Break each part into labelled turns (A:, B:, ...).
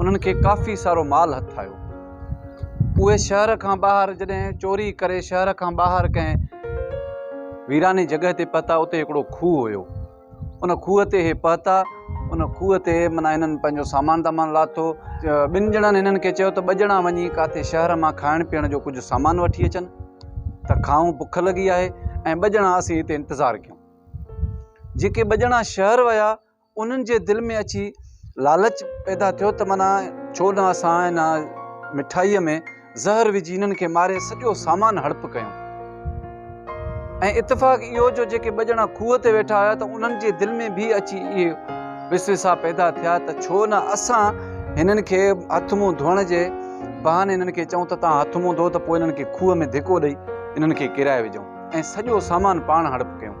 A: انهن کي ڪافي سارو مال هٿ آيو. اهي شهر کان ٻاهر جڏهن چوري ڪري شهر کان ٻاهر ڪنهن ويراني جڳهه تي پهتا اتي هڪڙو کوهه هيو. ان کوهه تي اهي پهتا. ان کوهه تي معنيٰ هنن پنهنجو سامان دامان لاٿو. ٻن ڄڻن هنن کي چيو ته ٻه ڄڻا وڃي ڪاٿي شهر مان کائڻ پيئڻ جو ڪجهه سامان وٺي اچن ته کائون بک لڳي آهي ۽ ٻه ڄڻا اسين هتي انتظار ڪيون. جيڪي ٻه ڄڻا شهر ويا انهن جي دل ۾ اچي لالچ پيدا ٿيو ته معنيٰ ڇو نه اسان هن مٺائيء ۾ زهر وجهي هنن کي ماري سڄو سامان هڙپ ڪيون. ۽ اتفاق اهو جو جيڪي ٻه ڄڻا کوهه تي ويٺا هيا ته انهن جي دل ۾ به اچي اهي وسوسا پيدا ٿيا ته ڇو نه اسان هنن کي هٿ منهن ڌوئڻ جي بهاني هنن کي چئون ته توهان هٿ منهن ڌوئو ته پوء هنن کي کوهه ۾ ڌڪو ڏئي هنن کي ڪيرائي وجهون ۽ سڄو سامان پاڻ هڙپ ڪيون.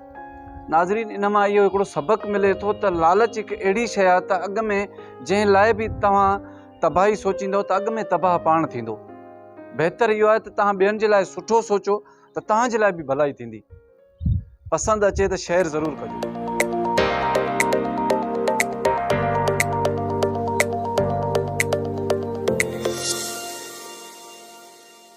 A: ناظرين ان مان اهو هڪڙو سبق ملي ٿو ته لالچ هڪ اهڙي شيء آهي ته اڳ ۾ جنهن لاء به توهان تباهي سوچيندو ته اڳ ۾ تباهه پاڻ ٿيندو بهتر اهو آهي ته توهان ٻين جي لاء سٺو سوچو ته توهان جي لاء به ڀلائي ٿيندي پسند اچي ته شيئر ضرور ڪجو